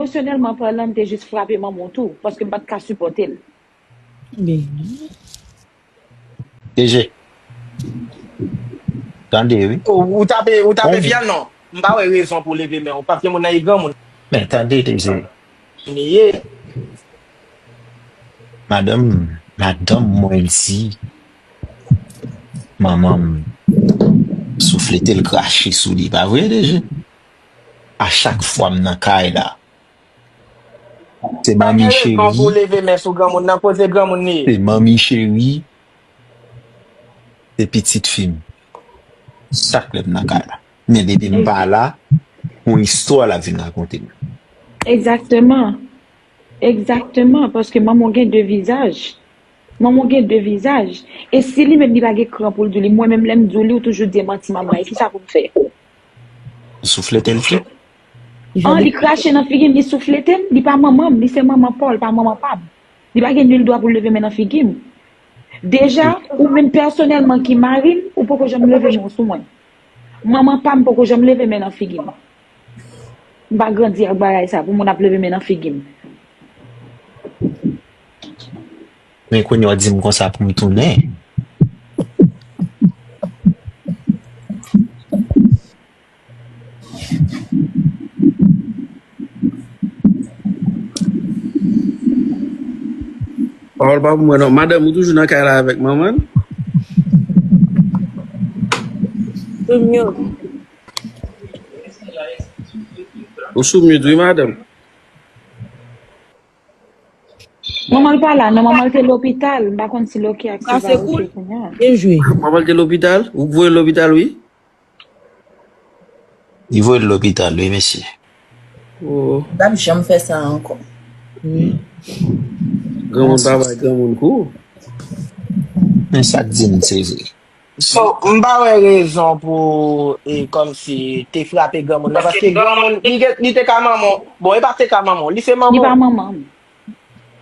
Emosyonèlman palan m te jis frape manman w tou paske m pa t ka sipòte l. Deje. Tande wi. Ou tape ou tape pye a non. M pa wè rezon pou w leve men w paske moun nan e granmoun. Men tande Deje. Ni ye. Madanm madanm mwen di manman m souflete l krache sou li pa vre Deje? a chak fwa m nan kay la se manmi cheri se pitit fi m chak lè m nan kay la men depi m pa la yon istwa lap vin rakonte m Egzakteman Egzakteman paske manman w gen de vizaj manman w gen de vizaj e si li menm li pa gen kran pou l di w li mwen menm lè m di w li ou toujou di manti manman e kisa pou m fè. Li souflete l fre. An li krache nan figi m, li souflete m, li pa manman m, li se manman paw, li pa manman pa m. Li pa gen nul dwa pou l leve men nan figi m. Deja, ou menm pèsonèlman ki mari m, ou poko janm leve men w sou mwen. Manman pa m poko janm leve men nan figi m. M pa grandi ak bagay sa pou moun ap leve men nan figi m. Men kounye a w di m konsa pou m tounen. Pawòl pa pou mwen non. Madanm ou toujou nan kay la avèk manman l? Sou myout. Ou sou myout wi madanm. Manman l pa la non, manman l te lopital, m pa konn si l ok ak si l pa ok kounya. Byen jwe. Manman l te lopital? Ou k voye l lopital wi. Li voye l lopital wi mesye. Ooh. Li pap janm fè sa ankò. Wi. Granmoun pa bay granmoun kou. Men sak dim se vre. So, m pa wè rezon pou e kòmsi te frape granmoun nan paske granmoun li gen li te ka manman w. Bon, e pa te ka manman w, li se Li manman pa w. manman m.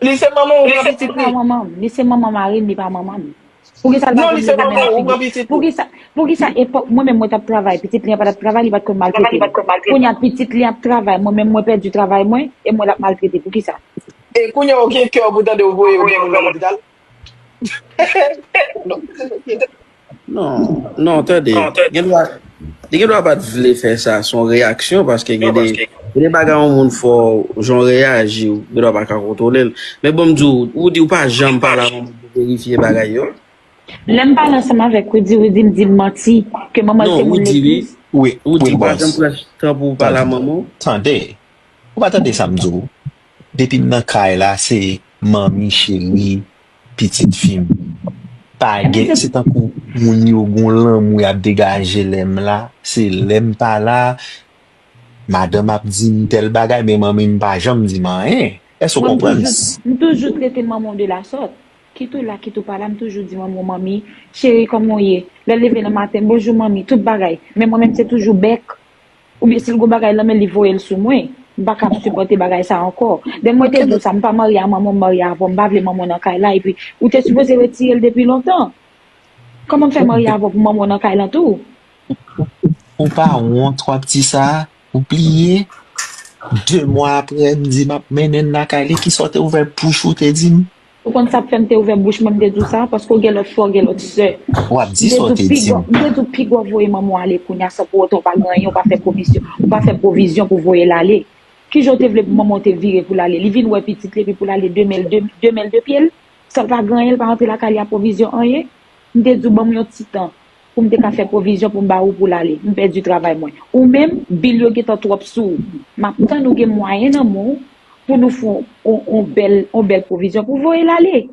Li se manman w, ou pran Li pitit pa li. manman m. Li se manman mari m, li pa manman m. Poukisa l pa Non, vin li se mete men manman nan w, ou figi pran m? pitit li. Poukisa poukisa epòk mwen menm mwen t ap travay, pitit li an pa t ap travay, li pa t konn Travay, li maltrete pa m? t konn maltrete Kounye m. a pitit li ap travay, mwen menm mwen pèdi travay mwen e mwen l ap maltrete. Poukisa? E kounye a ou gen kè pou tande yo voye yon granmoun nan lopital? Non, non tande, gen dwa, li gen dwa pat vle fè sa, son reyaksyon paske gen de, gen de bagay yon moun fò, jan w reyaji, ou gen dwa pa ka kontwole l. Men bon m di w, ou di ou pa janm pale ak yon moun pou verifye bagay yo? Lè m pale ansanm avèk Rudy, Rudy m di m manti, ke manman l se moun le plis. Wi, Rudy, ou pa janm pran tan pou w pale ak manman w? Tande, ou pa tande sa m di w? Depim nan kay la se manmi cheri pitit fim pa gen se tankou moun yo gon lanmou yap degaje lèm la se lèm pa la madanm ap dim tèl bagay men manmim pa janm dim anyen èske ou Mwen m konprann toujou s. m toujou trete manmanw de la sòt kit ou la kit ou pa la m toujou di manmanw manmi cheri kòman w ye lèl leve nan maten bonjou manmi tout bagay men mwen menm se toujou bèk Oubyen sil gon bagay nan menl li voyel sou mwen. M pa kap sipòte bagay sa ankò. Then mwen te di w sa m pa marye a manman m marye avè w m pa vle manman w nan kay la epi ou te sipoze retire l depi lontan. Kòman m fè marye avè w pou manman w nan kay lan tou. Ou pa wont wap di sa, ou pliye 2 mwa aprè m di map mennen l lakay li kisa w te ouvè bouch ou te di m. Ou konn sak fèm te ouvè bouch mwen mte diw sa paske ou gen lòt frè ou gen lòt sè Wap di sa ou te dim. Mte diw pi gwa voye manmanw ale kounya san pou otan ou pa gen anyen ou pa fè pwovisyon ou pa fè pwovizyon pou voyel ale kijan ou te vle pou manmanw te vire poul ale li vin wè pitit li epi poul ale de menl de menl de pyel sanl pa gen anyen li pa rantre lakay li a pwovizyon anyen mte diw banm yon ti tan Pou m te ka fè pwovizyon pou m ba ou pou l ale. M pèdi travay mwen. Ou menm, bil yo gentan twòp sou ou. M ap tann ou gen mwayen nan men w pou nou fè yon bèl yon bèl pwovizyon pou voye l ale.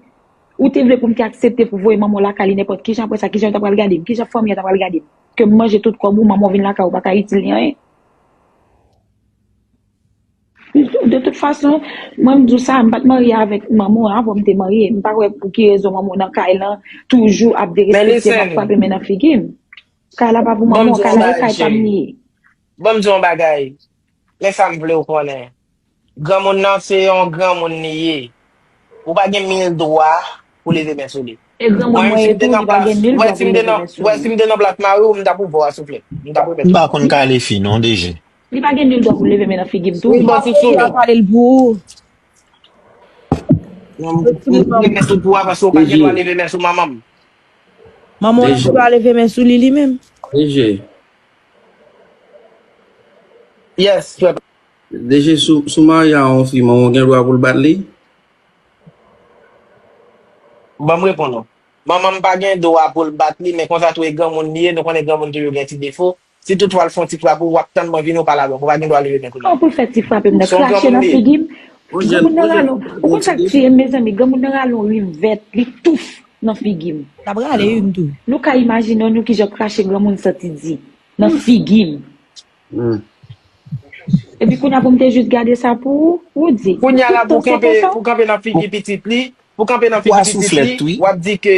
Ou te vle pou m te aksepte pou voye manman w lakay li nenpòt kijan apre sa kijan yo ta pral gade m? Kijan fanmi an ta pral gade m? Ke m manje tout kòb ou, manman w vin lakay ou pa ka itil li anyen? De tout fason, mwen m di w sa, m pa t marye avèk Manmou an avan m te marye. M pa wè pou ki rezon Manmou nan kay lan toujou ap derespekte m, ap frape men nan figi m. Kay la pa pou Manmou an, kay la e kay pa m li ye. Ban m di w yon bagay, men sa m vle w konnen. Granmoun nan se yon granmoun li ye. Ou pa gen mil dwa pou w leve men sou li. E granmoun mwen ye tou, li pa gen mil dwa pou l leve men sou li. Wè si m te nan plas mari w, m t ap ouvè w a souflèt. M t ap remèt w a. M pa konn kale fi non, DG. Li pa gen nul dwa pou leve men nan figi m tou. Wi bò Fifi. Wap palel pou ou. Mwen leve men sou pou a paske ou pa gen dwa leve men sou manmanm. Manman w gen dwa leve men sou li li menm. DG. Yes frè pam. DG sou marye a yon fi manman w gen dwa pou l bat li? Banm reponn ou. Manmanm pa gen dwa pou l bat li men konsa tou e granmoun li ye nou konnen granmoun toujou gen ti defo. Si toutfwa l fon ti frap ou, w ap tann mwen vini ou pa la donk ou pa gen dwa leve men kounya. An pou l fè ti frape m nan, krache nan figi m, granmoun nan rale yon, ou konn sa k tiye m mezanmi, granmoun nan rale yon rim vèt, li touf nan figi m. L ap rale yn tou. Nou ka imajine w nou kijan krache granmoun santi di nan figi m. Epi kounya pou m te jis gade sa pou ou, ou di, Kounya la pou w kanpe, pou w kanpe nan figi pitit li, pou w kanpe nan figi pitit li, w ap di ke